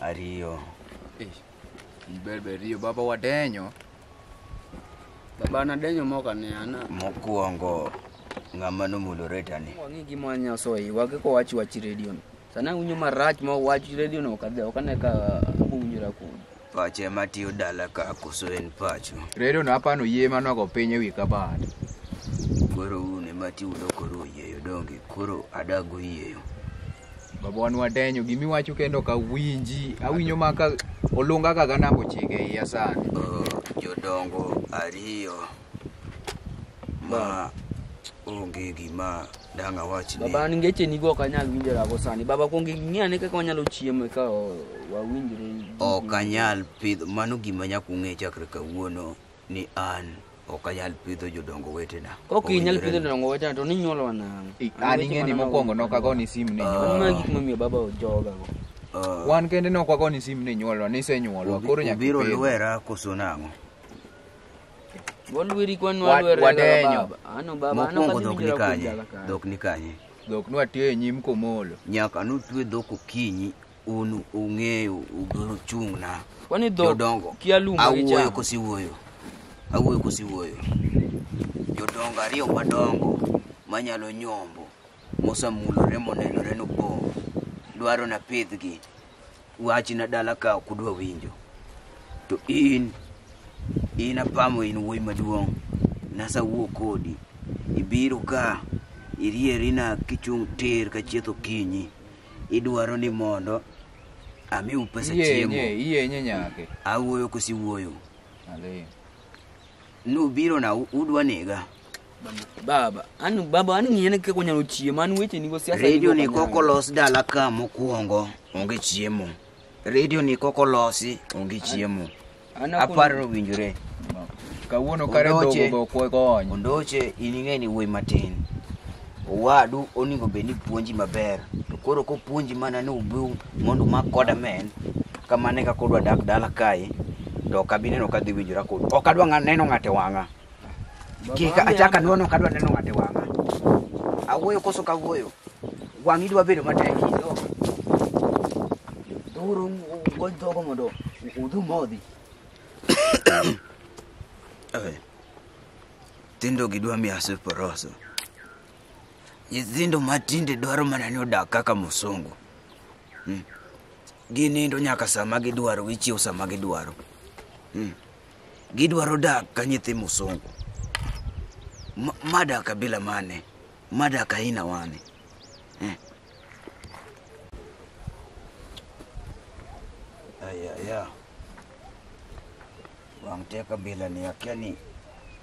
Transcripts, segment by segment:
Ariyo. Eh, Berber riyo baba wadenyo. Baba nadenyo moka ne ana. Mokwongo ng'ama nomulo retani. Wang'i gima wanyaso e wage ko wachi wachi radio no. Sana unyo marach ma wachi radio no kadhe okane ka unjira ku. Pache matiyo dala ka koso en pacho. Redo no hapa no yie mano go piny ewi kabad. Koro un ema tiudo koro oyieyo donge. Koro adago yieyo. Babawa nwadenyo gimiwacho kendo ok awinji. Awinjo ma ka olunga kaka namba ochiko e iya sani. Uh, jodongo ariyo ma onge gima dang' awach ni Baba an ngeche nigo ok anyal winjora go sani. Baba kuong ing'i ane kaka wanyalo chiemo eka o- wawinjre. ok anyal pidho mano gima nyaka ung'e chakre kawuono ni an ok anyal pidho jodongo wetena. Kok inyal pidho jodongo wetena to ninyuolo nang'o? An ing'e ni mokwongo nok ago ni sim ni nyuolo. Mano gik momiyo baba ojoga go. Ah. Wan kende nok wago ni sim ni nyuolo, ni se nyuolo, koro nyaka ibiro lwera koso nang'o? Walweri kwa nwalwera wadenyo. Ano baba, ano kasi dhok ni kanye? Dhok ni kanye? Dhok nwatiyo e nyim komolo. Nyaka nutwe dhok okinyi un ung'eyo ubiro chung'na Kwani dhok jodongo kia lum ma awuoyo gichamo. kosiwuoyo awuoyo kosiwuoyo jodongo ariyo madongo manyalo nyombo mosamulore monenore nopong' dwaro na pidhgi wachna dala ka ok udwa winjo to in in apamo in wuoyi maduong' nasawuo kodi ibiro ka irierina kichung' tir ka chieth okinyi Idwaro ni mondo amiu pesa Iyenye, chiemo. iyenye nyake. Awuoyo kosi wuoyo. Alee. Nubiro na u- udwa nega. Baba, an baba an ng'iyane kaka wanyalo chiemo, an weche nigo siasa. Radio nigo ni koko los dala ka mokwongo onge chiemo. redio ni koko losi onge chiemo An akon- aparo winjore kawuono kare dhogo Ondoche. be ok wakony ondoche in ing'e ni wuoyi matin owadu onego bed ni puonji maber to koro kopuonji mana ni ubiu mondo umak koda men kamano e kaka odwa dak dala kae to ok abi neno ka dhi winjora kodu ok adwa ng'a- neno ng'ato e wang'a Kik achak anwono kadwa neno ng'ate wang'a. Awuoyo koso kawuoyo. Wang'i dwa bedo matek. Dhuru gol dhogo mondo udhu modhi. Oe. Tindo gidwa miya siporoso. Nyithindo matinde dwaro mana ni odak kaka musungu. Hmm. Ginindo nyaka sama gidwaro, gichiew sama gidwaro. Hmm. Gidwaro dak ka nyithi musungu. Ma- Mada kabila mane? Mada kaina wane. Eh. Aya, aya. Wang' te kabila ni akia ni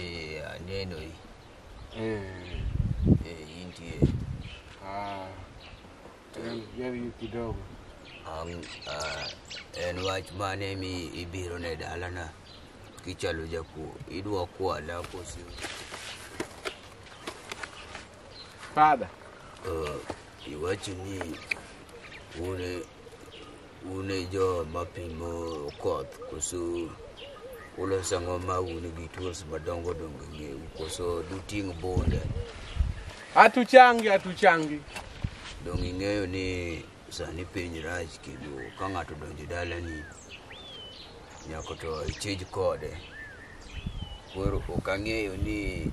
Eh, aneno hii. Eh, Eh, hii ndiye. ah, yaani- yaani hiyo kidogo Ang, ah, en wach mane mi ibiro ne dalana kichalo jakuo idwa kwala kosi Father, uh, iwacho ni une Un e jo ma pimo koth koso uloso ang'o ma un gi tools madongo dongo ngeu koso duting' bunde Hatuchangi, hatuchangi. donge ing'eyo ni sani piny rach kendo ka ng'ato donjo dalani nyaka to ichij kode koro ok ang'eyo ni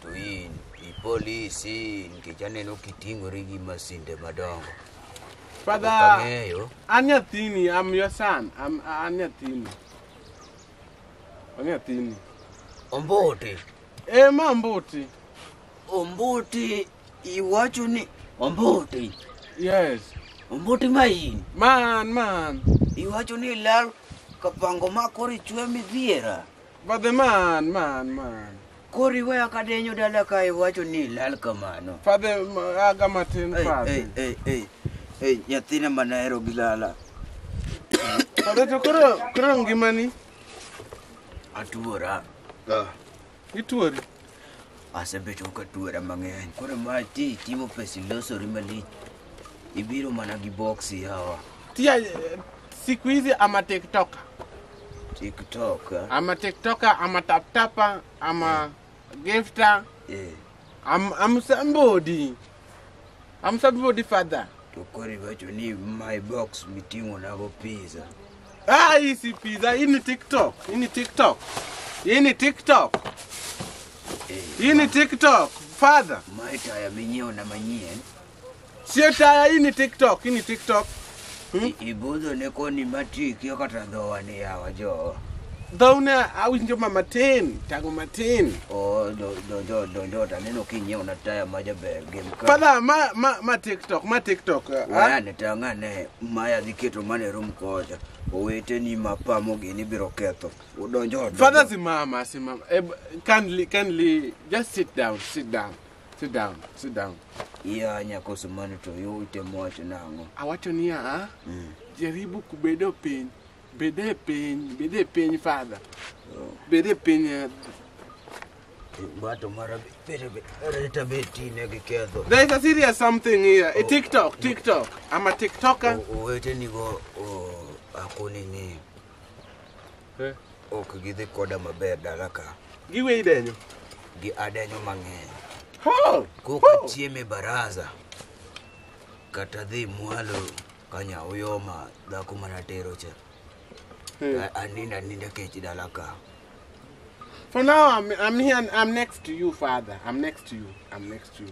To in ipolisi nikech aneno kiting'ori gi masinde madongo. Father, Ang'eyo. an nyathini, I'm your son. I'm, an nyathini. An nyathini. Ombuti. Eh, ma Mbuti. Ombuti iwacho ni Ombuti. Yes. Ombuti ma in. Man, man. Iwacho ni ilal kapango ma koro ichwe midhiera. But the man, man, man. Kori we akadenyo dala ka iwacho ni lal kamano. Father, aga matin Ei, ei, father. ei, ei. Ei, nyathina manahero gi lala. Father to koro koro ngimani Atuora. ituori. Asebedo ka tuera mang'eny. Koro ma ti timo pesi losori malich. Ibiro mana gi boksi hawa. Tia eh, siku hizi ama tiktoka TikTok. ah? ama tiktoka ama taptapa ama gifta Eh. am, am somebody Amsa bibo di father. To koro iwacho ni my box miting'o nago pizza. Ah, hii si pizza, hii ni TikTok. Hii ni TikTok. Hii ni TikTok. Eh, Hii ni TikTok. Father. Mae taya minyiewo na manyien. Sio taya, hii ni TikTok. Hii ni TikTok. Ibudho ne koni matik yo kata dhowa ni yawa jo. Dhow ne awinjo ma matin, tango matin. O do do jo do jo ta neno kinyeo na taya ma jaber gem ka. Father, ma ma ma TikTok, ma TikTok. ah, Waya ne tanga ne maya dhi keto mane rum koja. Owete ni mapamo gini biro ketho. Udonjo. Father simama, simama. Eh, kindly, kindly just sit down, sit down. Sit down, sit down. Iya nyakoso mano to yo itemo wacho nang'o? Awacho niya, Mm. jaribu kubedo piny. Bede piny, bede piny father. Oh. Bede piny. eh. Bato mara bere bere tabe tine gi ketho. There is a serious something here. A TikTok, TikTok. I'm a TikToker. Owete nigo akoni ni Eh. Ok gidhi koda maber dala ka. Giwe idenyo. Gi adenyo mang'eny. Ha! Koka chieme baraza. Kata dhi mwalo kanya uyoma dhako mana tero cha. Hmm. Aninda ninda kech dala ka. For now, I'm, I'm here, I'm next to you, Father. I'm next to you. I'm next to you.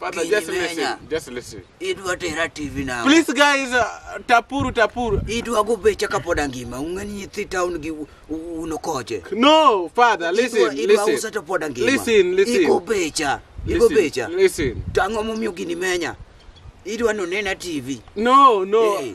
Father, King just listen. Menya. Just listen. Idwa tera TV na. Please guys, uh, tapuru tapuru. Idwa go becha kapod angima. Ung'eni nyithi town gi u- u- uno koche. No, father, listen, Idwa- idwa usa listen. to pod angima. Listen, listen. Igo becha. Igo Listen, becha. Listen. To ang'o momiyo gini menya? Idwa nonena TV. No, no. Hey.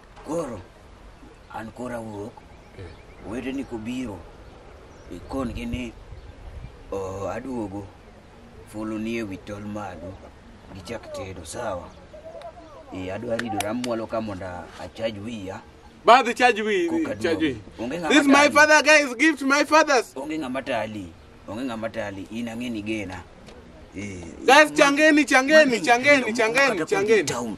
Koro an kora wuok, wedeni kobiro, ikongi ni oh, aduogo fulu ni ewi tol malo gichak tedo sawa. Eh, adwa ridora amwalo ka mondo achaj wiya. Ba the charge we Koka charge we. duogo. Onge ng'ama This is my tali. father guys, give to my fathers. Onge ng'ama tali, onge ng'ama tali, in ang'e ni gena. Eh, Guys, changeni, changeni, changeni, changeni, changeni. Town.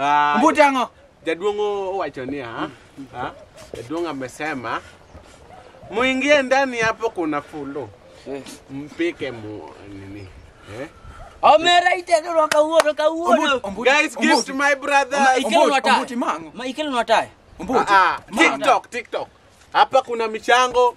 Ah, Mbuti ang'o? Jaduong' owacho ni ha, ha, jaduong' amesema muingie ndani hapo kuna fulu mpike mu nini eh? Omera itedo kawuono kawuono. Ombuti- Guys, give to my brother. Ombuti- Ikelo nwa Ombuti tayo. mang'o? Ma ikelo nwa tayo. Ombuti. Ah, ah, mang'o. TikTok, TikTok. Hapa kuna michango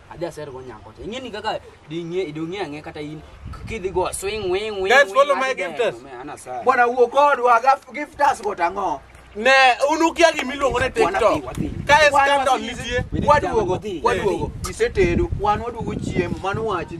adhi aser go nyako te ing'eni kaka ding'e idong'e ang'e kata in k- kidhi go swing wing wing Guys, wing, follow my adhi gero, gifters. me, ana saa. Bwana wuo kodwa gaf- giftas go tang'o. Ne, un ukia gima iluongo ni TikTok. Wadhi, wadhi. Ka e Wan scandal wadhi. nitie. Wadwogo, Wadhi. wadwogo. Isetedo, wan wadwogo chiemo, mano wachni.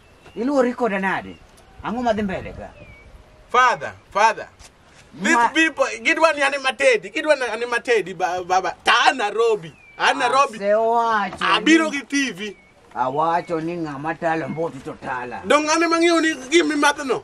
Iluori koda nade? Ang'o madhi mbele ka? Father, father. These Ma- people, gidwa ni anima tedi, gidwa ni anima tedi ba- baba. Ta Nairobi, a Nairobi. Asewacho. Abiro ni- gi TV. Awacho ni ng'ama talo mbotu to tala. Dong' an ema ng'eyo ni gimimadhno.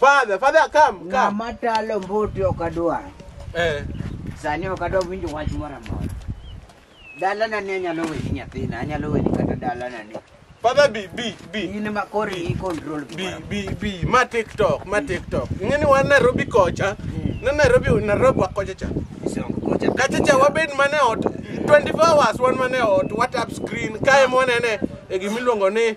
Father, father, come, come. Ng'ama talo mbuti ok adwar. Eh. Sani ok adwar winjo wach moro amora. Dalana ni anyalo weni nyathina, anyalo weni kata dalana ni. Father B, B, B. In ma koro i control B, gimoro. B, B. Ma TikTok, ma TikTok. Ing'e ni wan Nairobi kocha. Mm. Na Nairobi, Nairobi wa kocha cha. Isongo kocha. Kacha cha wabed mane ot. 24 hours wan mane ot, WhatsApp screen. Kae mwanene e gimiluongo ni